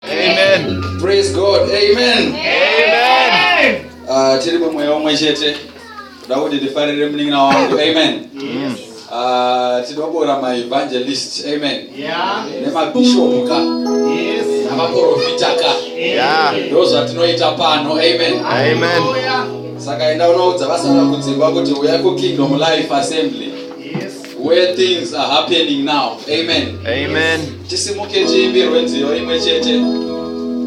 Amen. Praise God. Amen. Amen. Uh, tiri mumweya umwe chete kuda kuti tifarire munin'ina wangu amen yes. uh, tinobora maevangelist amen yeah. nemabishopu ka yes. namaprofita ka yeah. ndo zvatinoita pano amen, amen. saka enda unoudza vasara kudzimba kuti uya kukingdom life assembly where things are happening now amen amen tisimuke tiimbirwe nziyo imwe chete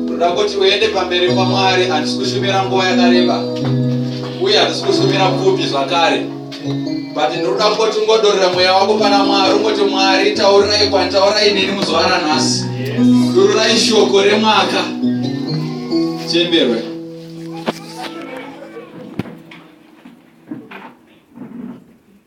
toda kuti uende pamberi pamwari handisi kushumira nguva yakareba uye handisi kushumira pfupi zvakare but ndinoda kuti ungodorera mweya wako pana mwari ungoti mwari taurirai kwanditaurai neni muzuva ranhasi dururai shoko remwaka tiimbirwe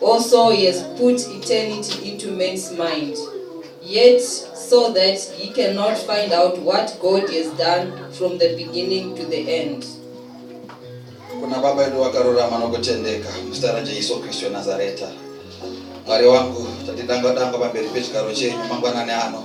Also he has put eternity into man's mind yet so that he cannot find out what God has done from the beginning to the end. Kuna baba edu vakarurama nokutendeka muzita raJesu Kristu weNazareta. Mwari wangu, tatidanga danga pamberi pechigaro chenyu mangwanani ano.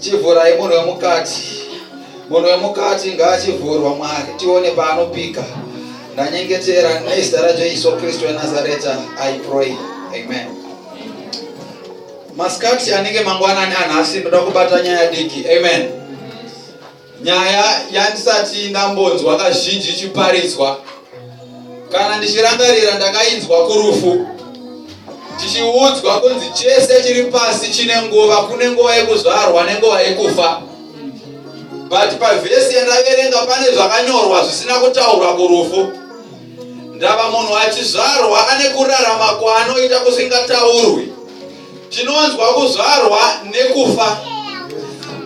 Chivhurai munhu wemukati. Munhu wemukati ngaachivhurwa Mwari tione paanopika. Ndanyengetera nezita raJesu Kristu weNazareta I pray. Amen. Masikati anenge mangwanani anhasi ndoda kubata nyaya diki. Amen. Nyaya yandisati ndambonzwa kazhinji ichiparidzwa. Kana ndichirangarira ndakainzwa kurufu tichiudzwa kunzi chese chiri pasi chine nguva, kune nguva yekuzvarwa nenguva yekufa. But pavhesi yandaverenga pane zvakanyorwa zvisina kutaurwa kurufu. Ndava munhu achizvarwa ane kurarama kwaanoita kusingataurwi. Tinonzwa kuzvarwa nekufa.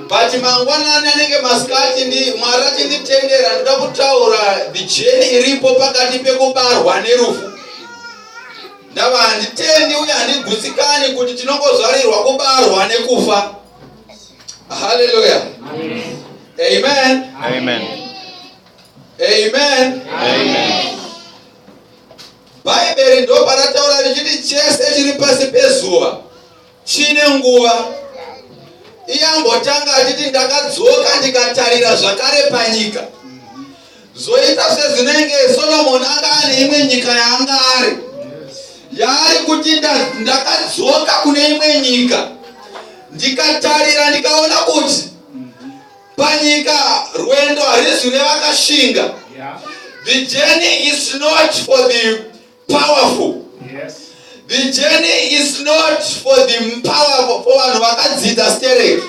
But mangwanani anenge masikati ndi Mwari achinditendera ndoda kutaura the journey iripo pakati pekubarwa nerufu. Ndava handitendi uye handigutsikani kuti tinongozvarirwa kubarwa nekufa. Hallelujah. Amen. Amen. Amen. Amen. Amen. Bhaibheri ndobva rataura richiti chese chiri pasi pezuva chine nguva. Iye ambotanga achiti ndakadzoka ndikatarira zvakare panyika. Zoita sezvinenge Soromoni anga ane imwe nyika yaanga ari. Yaari kuti ndakadzoka kune imwe nyika ndikatarira ndikaona kuti Panyika rwendo harizwi revakashinga. The journey is not for the powerful. Yes. The journey is not for the powerful for vanhu vakadzidza stereki.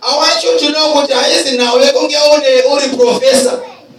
I want you to know kuti haizi nhau yekunge uri professor.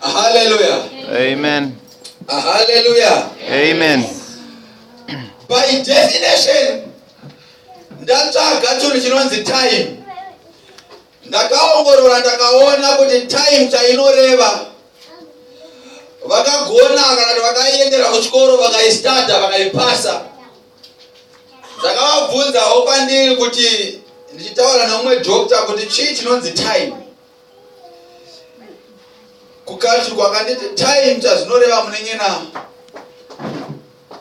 Hallelujah. Amen. Hallelujah. Amen. By definition, ndatsvaga chinhu chinonzi time. Ndakaongorora ndakaona kuti time chainoreva vakagona kana kuti vakaiendera kuchikoro vakaistada vakaipasa ndakavabvunzawo pandiri kuti ndichitaura neumwe doctor kuti chii chinonzi time kukashu kwakanditi time chazvinoreva munenge na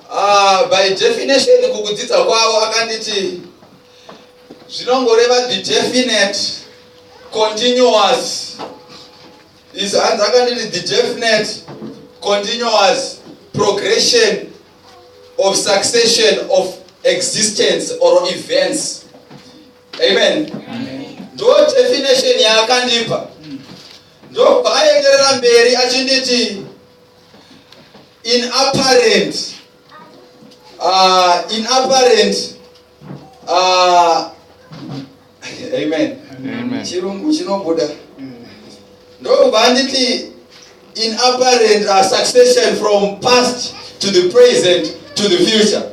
uh, by definition kukudzidza kwavo akanditi zvinongoreva the definite continuous is hanzi akanditi the definite continuous progression of succession of existence or events amen ndo definition yaakandipa ndobva aenderera mberi achinditi in apparent uh, in apparent uh, amen chirungu chinobuda ndobva anditi In apparent uh, succession from past to the present to the future.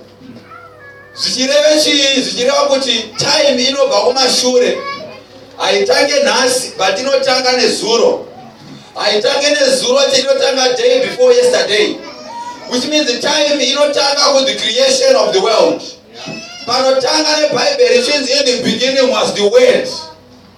Zvichireva chii? Zvichireva kuti time inobva kumashure. Haitange nhasi but inotanga nezuro. Haitange nezuro chete inotanga day before yesterday. Which means the time inotanga with the creation of the world. Panotanga nebhaibheri chinzi in the beginning was the word.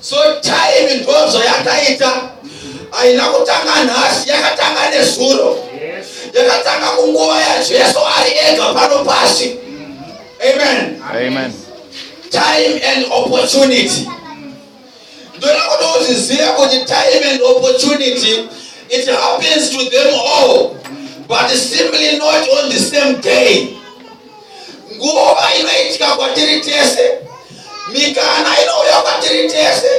So time ndozvo yakaita haina kutanga nhasi yakatanga nezuro yakatanga kunguva yajesu ari ega pano pasi amen amen time and opportunity ndoda kuti uzvizive kuti time and opportunity it happens to them all but simply not on the same day Nguva inoitika kwatiri tese, mikana inouya kwatiri tese,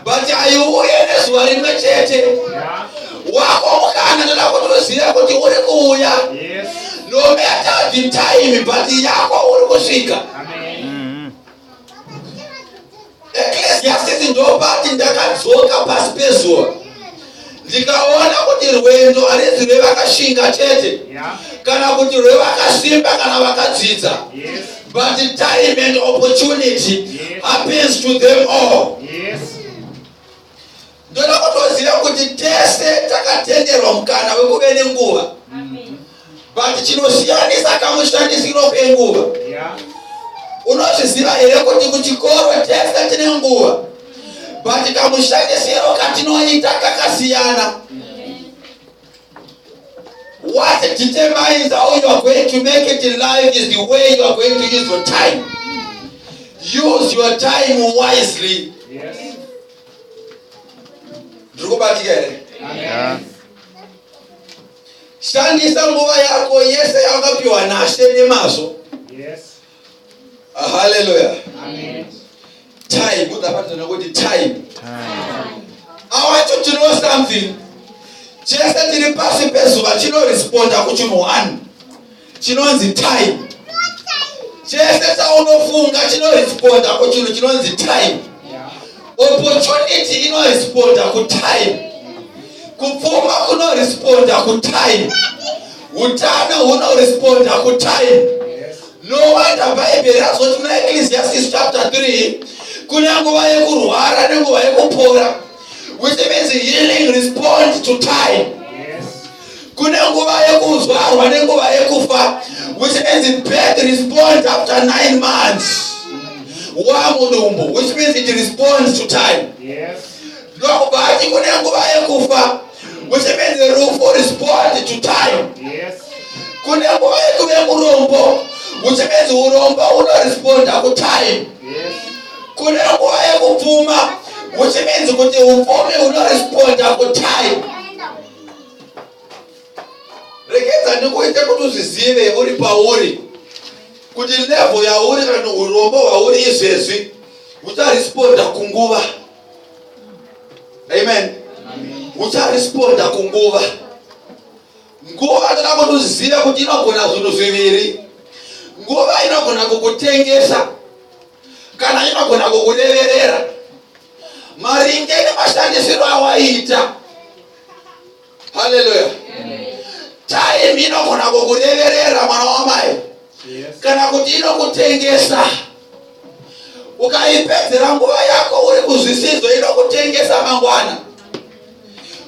but haiuye nezuva rimwe chete. Wako mukana ndoda kuti uzive kuti uri kuuya, no matter the time, but yako uri kusvika. eklesiasisi ndopati ndakadzoka pasi pezuva ndikaona kuti rwendo harizi rwevakashinga chete kana kuti rwevakasimba kana vakadzidza but time and opportunity happens to them all Ndoda kutoziva kuti tese takatenderwa mukana wekuve nenguva but chinosiyanisa kamushandisiro kenguva unozviziva here kuti kuchikoro tese tine nguva but kamushandisiro katinoita kakasiyana what determines how you are going to make it in life is the way you are going to use your time use your time wisely yes. ndiri kubatika here shandisa nguva yako yese yawakapiwa nashe nemazvo haleluya time udzapatinana kuti time awacho tino something chese tiri pasi pezuva chinoresponda kuchinhu one chinonzi time chese chaunofunga chinoresponda kuchinhu chinonzi time opportunity inoresponda kutime kupfuma kunoresponda kutime utano hunoresponda kutime no wonder bhaibheri razoti muna ecclesiastis chapter 3 kune nguva yekurwara nenguva yekupora which means healing respond to time kune nguva yekuzvarwa nenguva yekufa which means birth responds after nine months wamudumbu which means it responds to time ndokuba achi kune nguva yekufa which means rufu respond to time kune nguva yekuve murombo which means urombo unoresponda kutime kune nguva yekupfuma which means kuti upfumi unoresponda kutime regedza ndikuite kuti uzvizive uri pauri kuti levo yauri kana urombo hwauri izvezvi ucharesponda kunguva amen ucharesponda kunguva nguva toda kuti uzive kuti inogona zvinhu zviviri nguva inogona kukutengesa kana inogona kukureverera maringe nemashandisiro awaita haleluya time inogona kukureverera mwana wamai kana kuti inokutengesa ukaipedzera nguva yako uri kuzvisidzo inokutengesa mangwana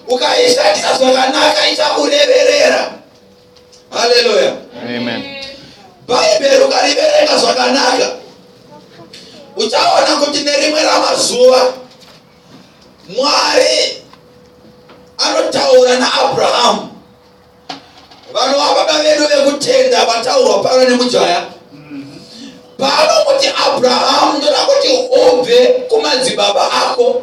ukaishandisa zvakanaka ichakureverera haleluya bhaibheri ukariverenga zvakanaka uchaona kuti nerimwe ramazuva mwari anotaura naabrahamu vanova baba vedu vekutenda vataurwa pano nemujaya paanokuti abrahamu ndoda kuti ubve kumadzibaba ako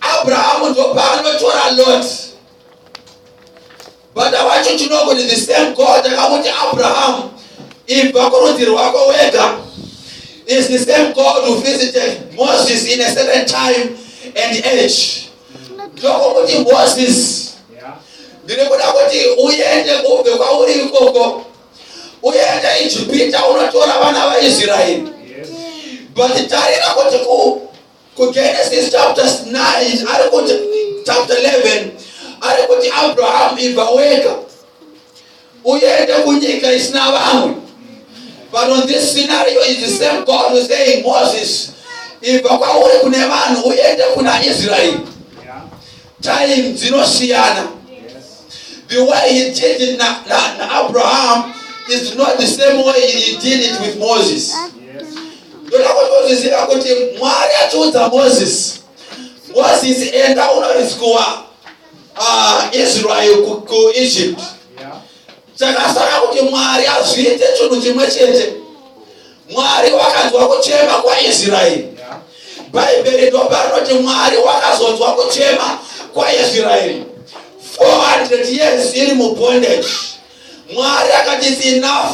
abrahamu ndopaanotora lot bata wacho tinogoni the same god akamuti abrahamu ibva kurudzi rwako wega is the same god who visited moses in a certain time and age ndokokuti moses ndiri kuda kuti uende ubve kwauri ikoko uende ijipita unotora vana vaisraeri but tarira kuti kugenesis chapter 9 ari kuti chapter 11 ari kuti abrahamu ibva wega uende kunyika isina vamwe but on this scenario is the same god who saying moses ibva kwauri kune vanhu uende kuna israeri time dzinosiyana the way he did it na, na, na abraham is not the same way he did it with moses ndoda kuti uzviziva kuti mwari achiudza moses moses enda unoriswa uh, israel kuegypt chakasara kuti mwari azviite chinhu chimwe chete mwari wakanzwa kuchema kwaisraeri bhaibheri ndoparinoti mwari wakazonzwa kuchema kwaisraeri 400 years iri mubondage mwari akati its enough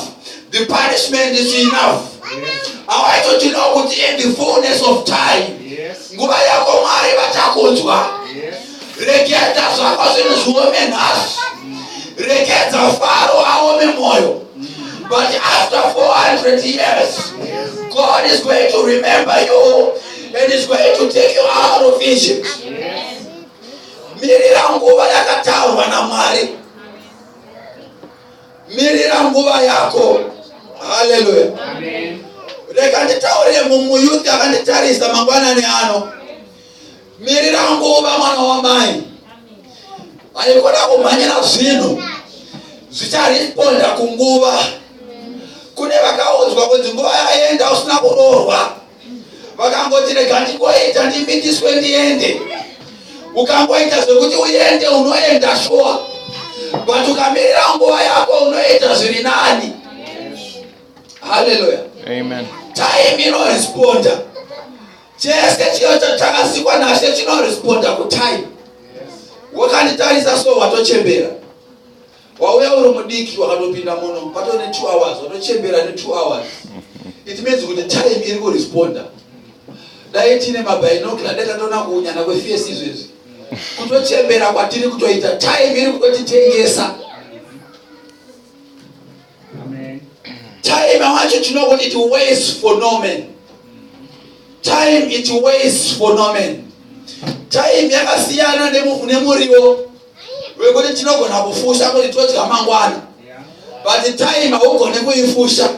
the punishment is enough awaitotinawo kuti in the fullness of time nguva yako mwari vachakunzwa reketa zvako zvinhu zviome nhasi rekedza faro aome mwoyo but after 400 years god is going to remember you and is going to take you out of egypt mirira nguva yakataurwa namwari mirira nguva yako haleluya reka nditaurire mumuyuti akanditarisa mangwanani ano Mirira nguva mwana wamai. Vaikuda kumhanyira zvinhu zvicharesponda kunguva. Kune vakaudzwa kunzi nguva yaenda usina kuroorwa. Vakangoti rega ndingoita ndimitiswe ndiende. Ukangoita zvekuti uende unoenda shuwa. But ukamirira nguva yako unoita zviri nani. Hallelujah. Amen. Time inoresponda. Chese chiyo chatakasikwa naShe chinoresponda kutime. Wakanditarisa so watochembera. Wauya uri mudiki wakatopinda muno pato ne 2 hours watochembera ne 2 hours. It means kuti time iri kuresponda. Dai tine mabinocular dai tatoona kuunyana kwefesi izvezvi. Kutochembera kwatiri kutoita time iri kutotitengesa. time i want you to know kuti it waits for no man time it waits for no man time yakasiyana nemuriwo wekuti tinogona kufusha kuti todya mangwana but time haugone kuifusha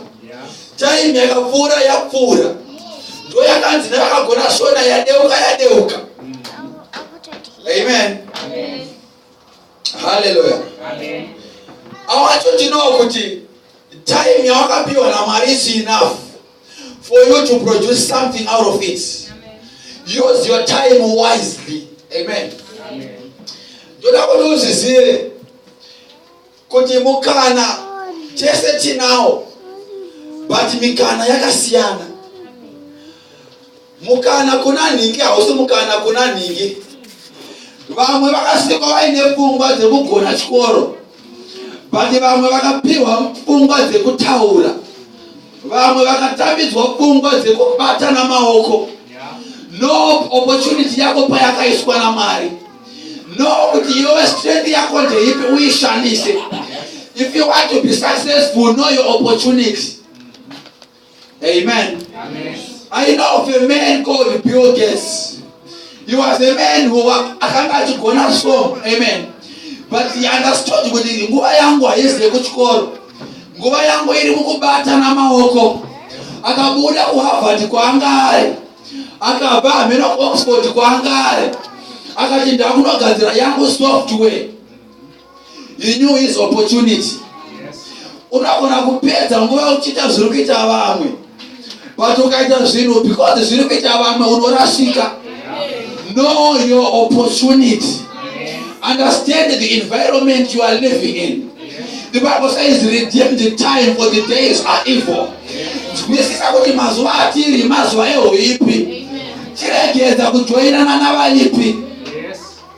time yakapfuura yapfuura ndo yakanzi nevakagona shona yadeuka yadeuka amen haleluya awacho ndinowo kuti time yawakapiwa namwari is enough for you to produce something out of it use your time wisely amen ndoda kuti uzvizive kuti mukana tese tinawo but mikana yakasiyana Mukana kuna nhingi hausi mukana kuna nhingi. Vamwe vakasikwa vaine pfungwa dzekugona chikoro but vamwe vakapiwa pfungwa dzekutaura. Vamwe vakatambidzwa pfungwa dzekubata namaoko. No opportunity yako payakaiswa naMwari. No kuti yove strength yako ndeipi uishandise. If you want to be successful, know your opportunity. Amen. Amen. I know of a man called Bill Gates. He was a man who akanga achigona so. Amen. But he understood kuti nguva yangu haizive kuchikoro. Nguva yangu iri mukubatana maoko. Akabuda kuHarvard kwaanga ari. Akabva hameno kuOxford kwaanga ari. Akati ndakunogadzira yangu software. you knew his opportunity unogona kupedza nguva uchiita zviri kuita vamwe but ukaita zvinhu because zviri kuita vamwe unorasika know your opportunity understand the environment you are living in the bible says redeem the time for the days are evil zwisisa kuti mazuva atiri mazuva ehoipi chiregedza kujoinana navaipi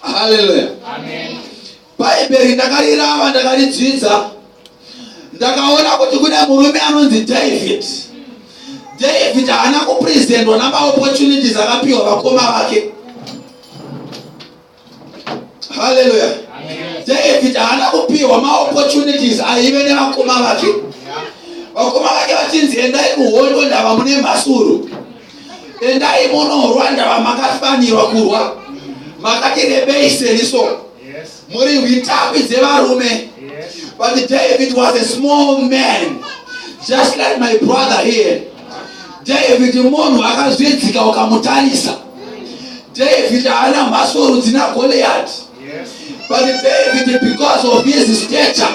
haleluya bhaibheri ndakarirava ndakaridzidza ndakaona kuti kune murume anonzi david david haana kupresentwa namaopportunities akapiwa vakoma vake haleluya david haana kupiwa maopportunities aive nevakoma vake vakoma vake vachinzi endai kuhondo ndava mune mhasuru endai munorwa ndava makafanirwa kurwa makati rebei seni so muri hwitapi dzevarume but david was a small man just like my brother here david munhu akazvidzika ukamutarisa david haana mhasuru dzina goliyati but david because of his stature